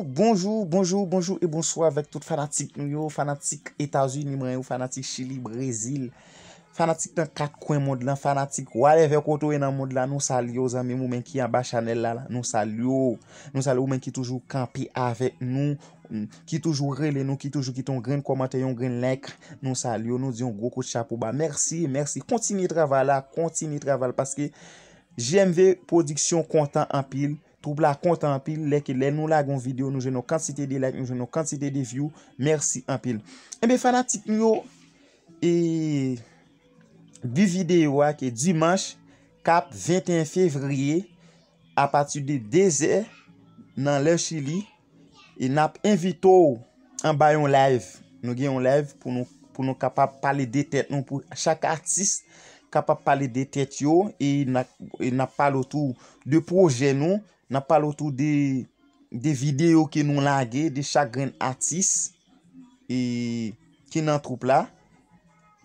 Bonjou, bonjou, bonjou e bonswa avèk tout fanatik nou yo, fanatik Etazini mwen yo, fanatik Chili, Brezil, fanatik nan kat kwen mond lan, fanatik whatever kote ou ye nan mond lan, nou salye ou zanmi m ou menm ki anba chanèl la, nou salye ou, nou salye ou menm ki toujou kanpe avèk nou, ki toujou rele nou, ki toujou kite yon grenn kòmantè, yon grenn like, nou salye w, nou di yon gwo kout chapo ba. Mèsi, mèsi. Kontinye travay la, kontinye travay la paske JMV Production kontan anpil, twoup la kontan anpil lè ke lè nou lage yon video, nou jwenn yon kantite de like, nou jwenn yon kantite de view. Mèsi anpil. Enben fanatik nou yo, e bi video a ke dimanche kap 21 fevrier apati de 2 zè nan lè chili e nap envite w anba yon live nou gen yon live pou nou pou nou kapab pale de tèt nou pou chak atis kapab pale de tèt yo e nap pale w tou de projè nou nap pale w tou de de video ke nou lage de chak grenn atis e ki nan troup la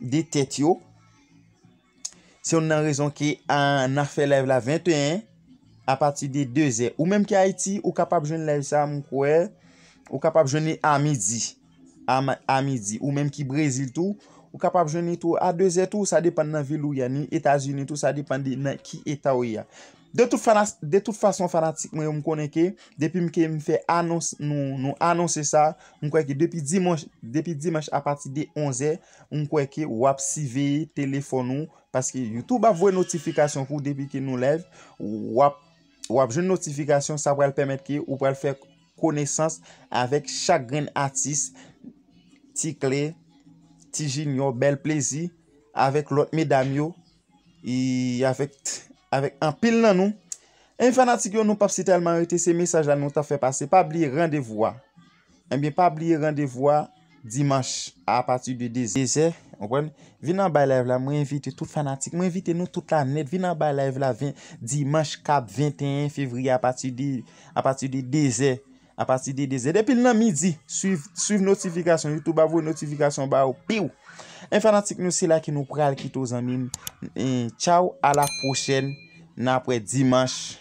de tèt yo Se youn nan rezon ke n ap fè live la 21 a pati de 2 zè. Ou menm ki Ayiti, ou kapab jwenn live sa m kwè, ou kapab jwenn li a midi. A midi. Ou menm ki Brezil tou, ou kapab jwenn li tou a 2 zè tou, sa depann nan vil ou ye a. Ni Etazini tou, sa depann de nan ki eta ou ye a. De tout fason fanatik mwen yo m konnen ke depi m ke m fè anons nou anonse sa, m kwè ke depi dimanch a pati de 11 zè, M kwè ke wap siveye telefòn ou paske youtube ap voye notifikasyon pou depi ke nou live wap wap jwenn notifikasyon sa pral pèmèt ke ou pral fè konesans avèk chak grenn atis Ti kle Ti jinyò bèl plezi avèk lòt medam yo e avèk avèk anpil nan nou e fanatik yo nou pap si tèlman rete se mesaj la nou ta fè pase pa bliye randevou a. Ebyen pa bliye randevou a dimanch a pati de 2 zè ou konprann vin anba live la mwen envite tout fanatik mwen envite nou tout la nèt vin anba live la dimanch kap 21 fevriye a pati de a pati de 2 zè a pati de 2 zè depi l nan midi swiv swiv notifikasyon youtube ap voye notifikasyon ba ou piu en fanatik nou se la ke nou pral kite w zanmi m en tchaw a la pwochèn nan ap wè dimanch.